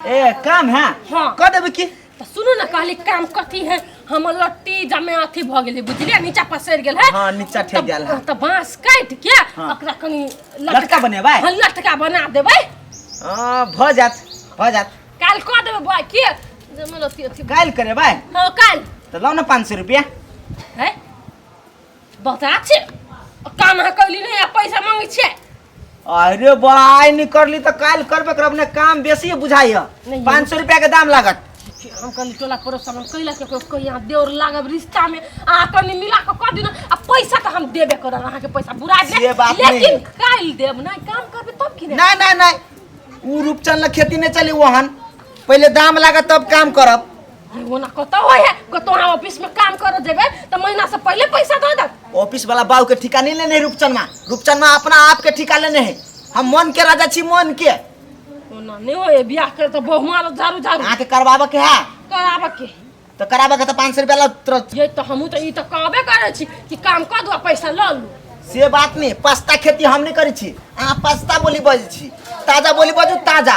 ए काम है हाँ। कह देबे की तो सुनू ना कहली काम कथी है हम लट्टी जमे अथी भ गेली बुझलिए नीचा पसर गेल है हाँ, नीचा ठेक गेल है। तो बांस काट के हाँ। ओकरा कनी लटका बनेबै? हाँ, लटका बना देबै हां भ जात भ जात काल कह देबै बा के जमे लट्टी अथी काल करे भाई हां काल तो लाओ ना 500 रुपया है बता छै काम अहाँ कैली नहीं आ पैसा मांगे छै अरे बा आइ नहीं करली तो काल करबे करब ने काम बेसी बुझाई है नहीं। पाँच सौ रुपया के दाम लागत हम कहली टोला पड़ोस हम कैला के कोई कोई यहाँ देवर लागब रिश्ता में अहाँ कहली मिला के कर दिन आ पैसा तो हम देबे करब अहाँ के पैसा बुरा दे से बात नहीं। लेकिन काल देब नहीं काम करबे तब की नहीं ना ना ना ऊ रूपचंद ला खेती नहीं चली वहन पहले दाम लागत तब काम करब वो ना कतो होय है कतो हम ऑफिस में काम करो जेबे त महीना से पहले पैसा दे दे ऑफिस वाला बाबू के ठिका नहीं लेने है रूपचंदमा रूपचंदमा अपना आप के ठिका लेने है हम मन के राजा छी मन के वो ना नहीं होय बियाह कर त बहुमा लो झारू झारू आके करवाबे के है कराबे के तो कराबे के तो पाँच सौ रुपया ला तुरंत ये त हमहू त ई त कहबे करे छी कि काम कर दो पैसा ल लू से बात नहीं पास्ता खेती हम नहीं करी छी अहाँ पास्ता बोली बजै छी ताजा बोली बजू ताजा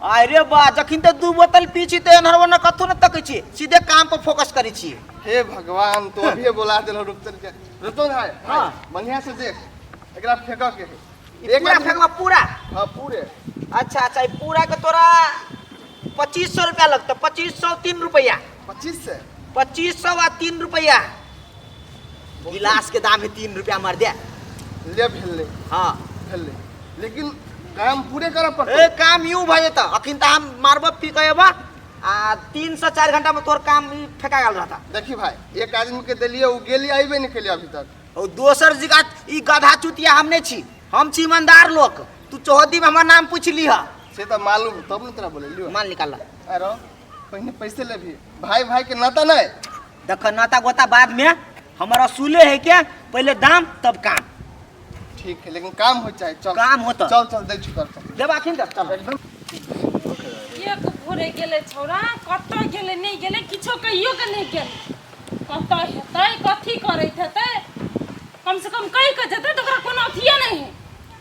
आय रे बा जखन ते दू बोतल पी छी ते एनहर ओनहर कथो न तकै छी सीधे काम पर फोकस करै छी हे भगवान तो अभी बोला देलो रुपचन के रुपचन भाई हां बढ़िया से देख एकरा फेंक के है एक बार फेंकवा पूरा हां पूरे अच्छा अच्छा पूरा के तोरा 2500 रुपया लगतो 2500 3 रुपया पच्चीस से पच्चीस सौ आ तीन रुपया गिलास के दाम है तीन रुपया मर दे ले भेले हाँ भेले लेकिन काम पूरे करऽ पड़तै ए काम यूं भऽ जेतऽ अखन तऽ हम मारबऽ फिर कहबऽ आ तीन से चार घंटा में तोर काम ई फेंका गेल रहता देखी भाई एक आदमी के देलिए उ गेली आइबे नहीं केलिए अभी तक और दोसर जगह ई गधा चुतिया हम नहीं छी हम छी ईमानदार लोग तू चौहदी में हमर नाम पूछ लीह से तो मालूम है, तब न तोरा बोले लियो माल निकाल ला अरे पहिने पैसे लेबही भाई भाई के नाता नहीं देख नाता गोता बाद में हमर असूले है के पहले दाम तब काम ठीक है लेकिन काम हो चाहे चल काम होता चल चल दे चुकर चल देब आखिन देब चल एकदम एक भोरे गेले छौरा कतऽ गेले नहि गेले किछो कहियो के नहि गेले कतऽ हेतै कथी करैत हेतै कम से कम कहि कऽ जेतै तऽ ओकरा कोनो अथिये नहि है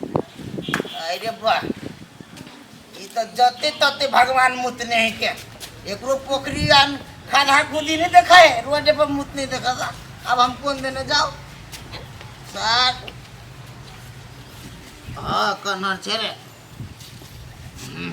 अरे बा ई तऽ जते तते भगवान मुतने है के एकरो पोखरी आ खाना खुदी नहीं देखा है रोड पर मुत नहीं देखा था अब हम कौन देने जाओ सर हाँ कन्हर छे रे हम्म।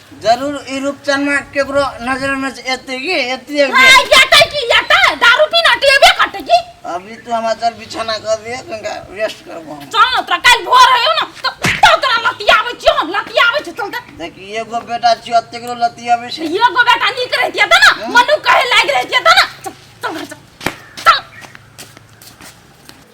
जरूर ई रूपचनमा केकरो नजर में से एते की एते एक दिन। ए, येतै की येतै दारू पीना टेबे कटै की अभी तू हमार चल बिछाना कर दिए कनिका रेस्ट करबो हम चल न तोरा काल्हि भोर होयौ न त त तोरा लतियाबै छियौ हम लतियाबै छियौ चल त देखी एगो बेटा छियो अते करो लती अबे से एगो बेटा नीक रहितियै त न मनु कहे लागि रहितियै त न चल चल घर चल चल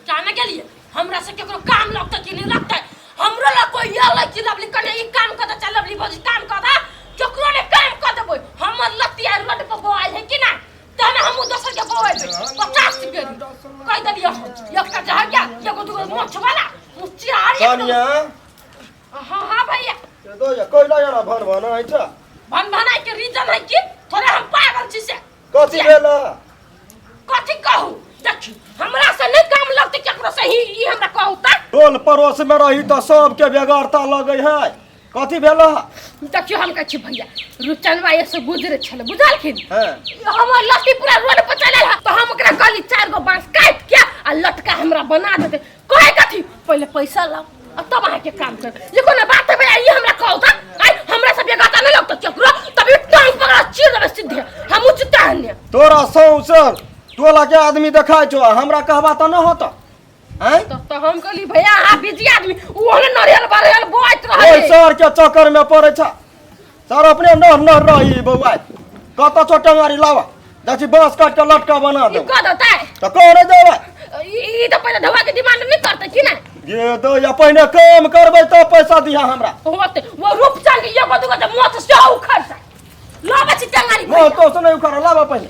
जाने के लिए हमरा से केकरो काम लगतै कि नहि लगतै हमरो लग कोई एलै कि लवली कने ई काम कऽ दे चाहे लवली भौजी काम कऽ दे केकरो ने काम कऽ देबै हमर लत्ती आइ रोड पर बौआइ है कि नहि तहन हमहूँ दोसर के बौएबै पचास के कहि देलियै हम एकटा जहर के एगो दूगो मोछ वाला मुचियारी तानिया हाँ हाँ भैया ये दो जा कोई लगा ना भर भर ना है भन भनाइ के रीजन है कि थोड़े हम पागल छी से कथी भेल कथी कहू देखी हमरा से नहीं काम लगते केकरो से ही ई हमरा कहू त टोल पड़ोस में रही तो सबके बेगरता लगे है कथी भेल देखियो हम कहै छी भैया रुचनवा ये से गुजरे छले बुझलखिन हैं हम लत्ती पूरा रोड पर चले है तो हम ओकरा कहली चार गो बांस काट के आ लटका हमरा बना देते कहे कथी पहले पैसा लाओ अब तब आए के काम कर ये कोनो बात है भैया ये हमरा कहो था आई हमरा सब ये गाता नहीं लगता चक्र तभी टांग पकड़ा चीर देबे सीधे हम उचिता हन्ने तोरा सौंसे टोला के आदमी देखाय छो आ हमरा कहबा त न होता हैं तो तो हम कहली भैया हां बिजी आदमी वो ने नरियल बरियल बोइत ओइ रहले सर के चक्कर में पड़े छ सर अपने नह नह रही बौआ कत छोटे मारी लावा देखी बांस काट के लटका बना ई दे कह देता है तो कह रे देवा ई ई तो पहले धवा के डिमांड नहीं करते कि ना ये दो या पहिने काम करबै तो पैसा दिहा हमरा होते वो रूप चल ये को दुगो मो तो से उखड़ सा लो बची टंगारी मैं तो सुनै उखाड़ लावा पहिने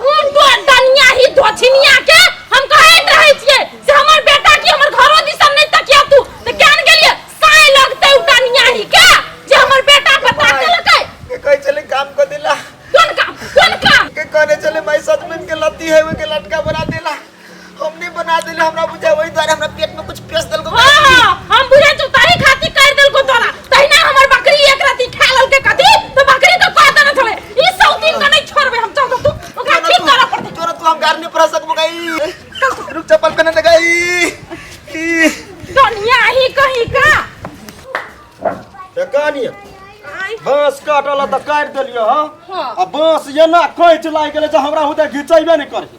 खून तो दनिया ही धोछिनिया के हम कहैत रहै छियै से हमर बेटा की हमर घरो दिसन नै तकिया तू त केन गेलिए साय लगतै उ दनिया ही के जे हमर बेटा पर ताकलकै के कहै छलै काम क देला कोन काम कोन काम के कहने छलै माय सजमैन के लत्ती है ओइ के लटका बना देला हमने बना देले हमरा बुझा वही द्वारा हमरा पेट में कुछ पेश देलको हाँ, हाँ, हम बुझे तो ताही खाती कर दिल को तोरा तहिना हमर बकरी एक राती खा लल के कथी तो बकरी के कह देना थोड़े ई सब दिन का नहीं छोड़बे हम चाहतो तू ओकरा ठीक कर पड़ते तोरा तू हम गार नहीं पर सकबो गई रुक चप्पल पहने लगाई ई दुनिया ही कहीं का एकानी आई बांस काटल त काट देलियो हां हाँ। आ बांस एना कैच लाग गेले जे हमरा हुते घिचैबे नै करे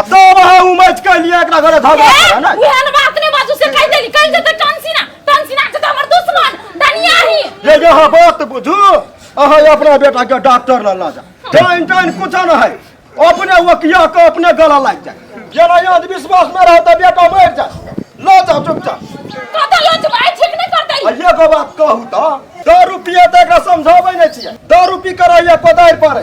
अब तो अब हाँ उमज कर लिया एकरा घर धर ए, ना उहन बात ने बाजू से कह देली कह देते टंसीना टंसीना के तो हमर दुश्मन धनिया ही ये जो हाँ बात बुझू अहाँ अपना बेटा के डॉक्टर ला ला जा टाइम टाइम कुछ न है अपने वकिया के अपने गला लग जाए जेना याद विश्वास में रह तो बेटा मर जाए ला जा चुपचाप कत लज भाई ठीक नहीं कर देली अइया के बात कहू तो दारू पिए तो एकरा समझाबै नहि छियै दारू पी कर अइया कोदारि पर